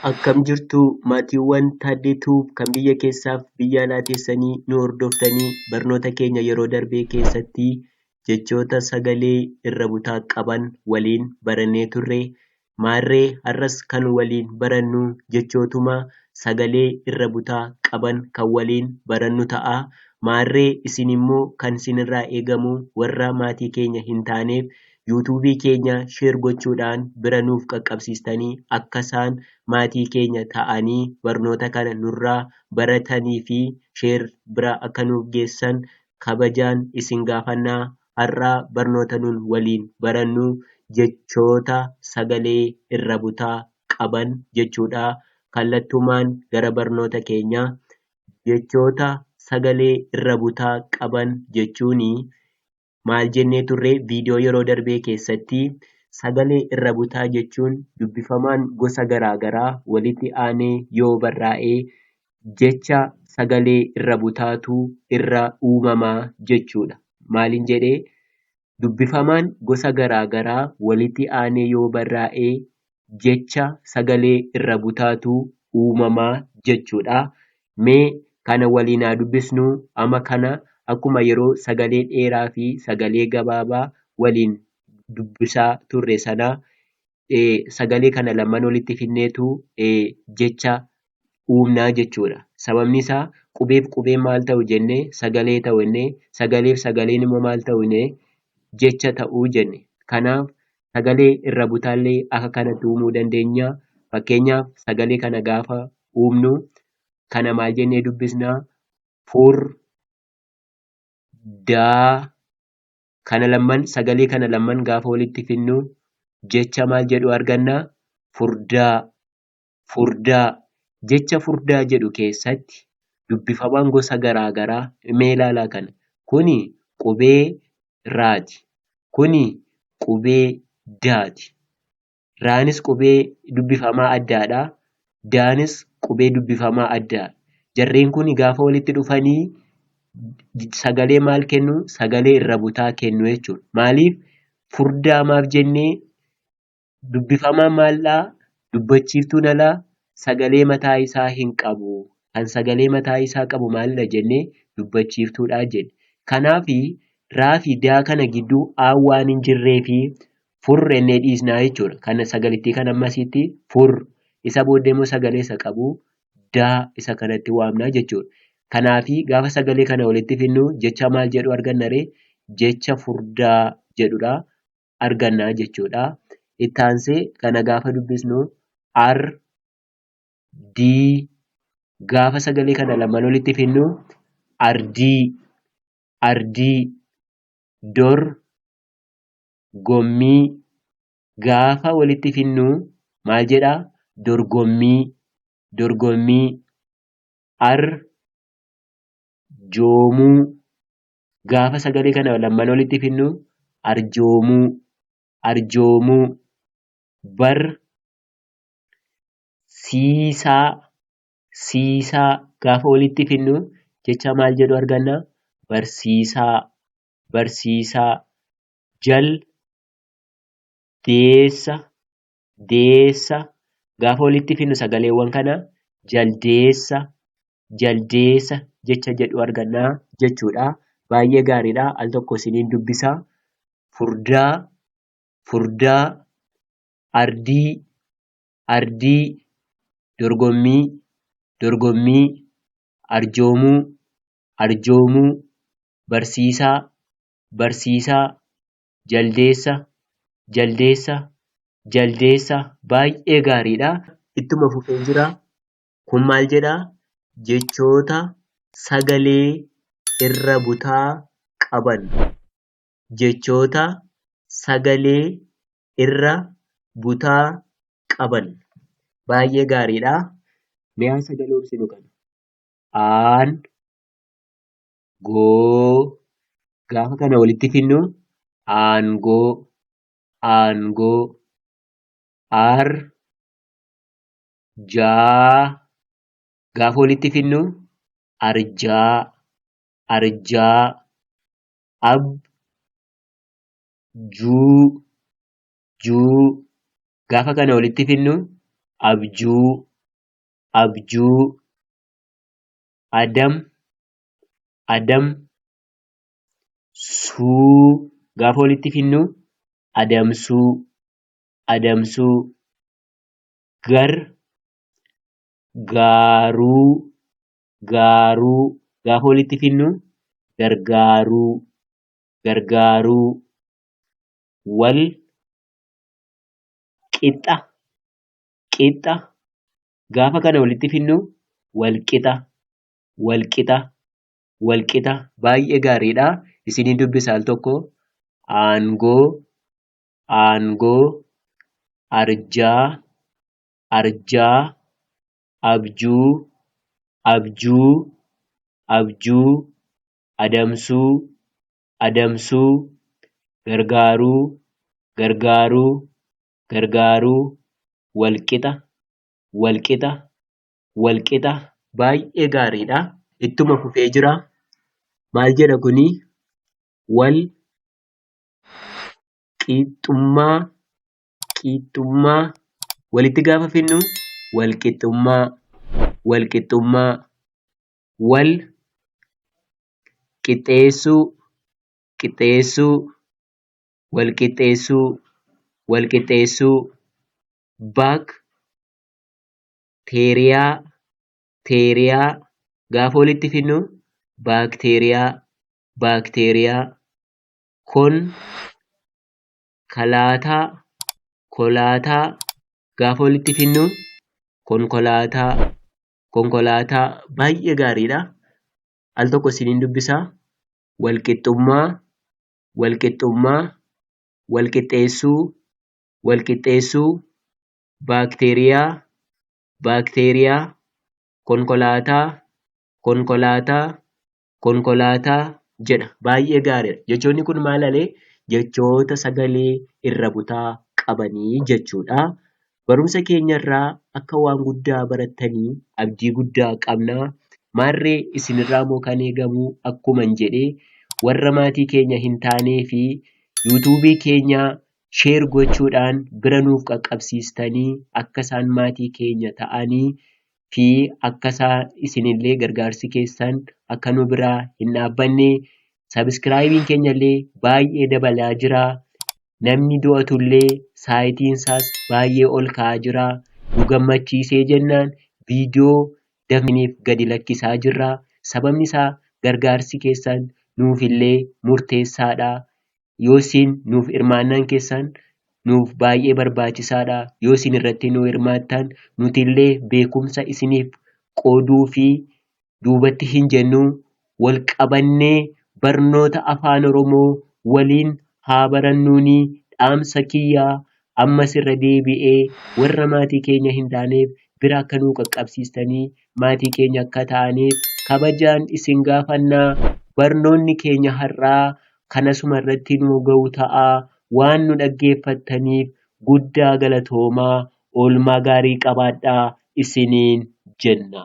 Akkam jirtu maatiiwwan Taaddee Tube kan biyya keessaaf biyya alaa teessanii nu hordoftanii barnoota keenya yeroo darbee keessatti jechoota sagalee irra butaa qaban waliin barannee turre maarree har'as kan waliin barannu jechootuma sagalee irra butaa qaban kan waliin barannu ta'a maarree isin immoo kan sinirraa eegamu warra maatii keenya hin taaneef YouTube keenya share gochuudhaan bira nuuf qaqqabsiistanii akka isaan maatii keenya ta'anii barnoota kana nurraa baratanii fi share bira akka nuuf geessan kabajaan isin gaafannaa har'aa barnoota nun waliin barannu jechoota sagalee irra butaa qaban jechuudha kallattumaan gara barnoota keenya jechoota sagalee irra butaa qaban jechuun maal jennee turre viidiyoo yeroo darbee keessatti sagalee irra butaa jechuun dubbifamaan gosa garaagaraa walitti aanee yoo barraa'e jecha sagalee irra butaatu irra uumamaa jechuudha. Maaliin jedhee dubbifamaan gosa garaagaraa walitti aanee yoo barraa'e jecha sagalee irra butaatu uumama jechuudha. Mee kana waliin haa dubbisnu. Ama kana akkuma yeroo sagalee dheeraa fi sagalee gabaabaa waliin dubbisaa turre sana sagalee kana lamaan walitti fidneetu jecha uumnaa jechuudha. Sababni isaa qubeef qubeen maal ta'u jenne sagalee ta'u jenne sagaleef sagaleen immoo maal ta'u jenne jecha ta'u jenne. Kanaaf sagalee irra butaallee akka kanatti uumuu dandeenya. Fakkeenyaaf sagalee kana gaafa uumnu kana maal jennee dubbisna fur daa kana lamman sagalee kana lamman gaafa walitti fidnu jecha maal jedhu arganna furdaa Furdaa, Jecha furdaa jedhu keessatti dubbifamaan gosa garaa garaa mee ilaalaa kana kuni qubee raati kuni qubee daati raanis qubee dubbifamaa addaadha daanis qubee dubbifamaa addaadha jarreen kuni gaafa walitti dhufanii sagalee maal kennu sagalee irra butaa kennu jechuudha maaliif furdaa maaf jennee Dubbifamaan maal'aa, dubbachiiftuun alaa, sagalee mataa isaa hin qabu. Kan sagalee mataa isaa qabu maalidha jenne? Dubbachiiftuudha jenne. Kanaaf raa fi daa kana gidduu aan waan hin jirreef fur ennee dhiisnaa jechuudha. Kan sagalittii kan ammasiitti fur. Isa booddee immoo sagalee isa qabu daa isa kanatti waamnaa jechuudha. Kanaaf gaafa sagalee kana walitti fidnu jecha maal jedhu arganna ree? Jecha furdaa jedhudha. arganna jechuudha. Itti aansee kana gaafa dubbisnu R D gaafa sagalee kana lamaan walitti fidnu ardii ardii dor gommii gaafa walitti fidnu maal jedha dorgommii dorgommii ar joomuu gaafa sagalee kana lamman olitti finnu arjoomuu arjoomuu bar siisaa siisaa gaafa olitti finnu jecha maal jedhu arganna barsiisaa barsiisaa jal deessa deessa gaafa walitti finnu sagaleewwan kana jaldeessa jaldeessa jecha jedhu argannaa jechuudha. Baay'ee gaariidha. Al tokko isiniin dubbisa. Furdaa furdaa ardii ardii dorgommii dorgommii arjoomuu arjoomuu barsiisaa barsiisaa Jaldeessa, Jaldeessa, Jaldeessa baay'ee gaariidha. Ittuma fufee jira. Kun maal jedha? Jechoota sagalee irra butaa qaban. Jechoota sagalee irra butaa qaban. Baay'ee gaariidha. Mee haa sagaloomsinu kana. Aan. goo gaafa kana walitti finnu aangoo aangoo ar jaa gaafa walitti finnu arjaa arjaa ab juu juu gaafa kana walitti finnu abjuu abjuu adam adam suu gaafa walitti finnu adamsuu adamsuu gar gaaruu gaaruu gaafa walitti finnu gargaaruu gargaaruu wal qixxa qixxa gaafa kana walitti finnu wal qixa walqixa walqixa baay'ee gaariidha isinii dubbisa al tokko aangoo aangoo arjaa arjaa abjuu abjuu abjuu adamsuu adamsuu gargaaruu gargaaruu gargaaruu walqixa walqixa wal qixa baay'ee gaariidha. Ittuma fufee jira. Maal jedha kuni? Wal qixxummaa qixxummaa walitti gaafa finnu wal qixxummaa wal qixxummaa wal qixxeessuu qixxeessuu wal qixxeessuu wal qixxeessuu back teeriyaa, teeriyaa gaafa walitti fidnu baakteeriyaa, baakteeriyaa, kon, kalaataa, kolaataa gaafa walitti fidnu konkolaataa, konkolaataa baay'ee gaariidha. Al tokko isiniin dubbisaa walqixxummaa, walqixxummaa, walqixxeessuu, walqixxeessuu baakteeriyaa baakteeriyaa konkolaataa konkolaataa konkolaataa jedha baay'ee gaariidha jechoonni kun maal alee jechoota sagalee irra butaa qabanii jechuudha barumsa keenya irraa akka waan guddaa barattanii abdii guddaa qabna maarree isin irraa moo kan eegamuu akkuman jedhee warra maatii keenya hin taanee fi yuutuubii keenya share gochuudhaan bira nuuf qaqqabsiistanii akka isaan maatii keenya ta'anii fi akka isaan isinillee gargaarsi keessan akka nu biraa hin dhaabbanne sabiskiraayibiin keenyallee baay'ee dabalaa jira. Namni du'atullee saayitiin isaas baay'ee ol ka'aa jira. Nu gammachiisee jennaan viidiyoo dafniif gadi lakkisaa jirra. Sababni isaa gargaarsi keessan nuufillee murteessaadha. Yoo isin nuuf hirmaannaan keessaan nuuf baay'ee barbaachisaadha. Yoo isin irratti nu hirmaattaan nuti illee beekumsa isiniif qooduu fi duubatti hin jennuu wal qabannee barnoota afaan oromoo waliin haa barannuuni dhaamsa kiyyaa ammas irra deebi'ee warra maatii keenya hin taaneef bira akka nuu qaqqabsiistanii maatii keenya akka taaniif kabajaan isin gaafannaa barnoonni keenya har'aa kan asuma irratti nuu ga'u ta'a. Waan nu dhaggeeffattaniif guddaa galatoomaa oolmaa gaarii qabaadhaa isiniin jenna.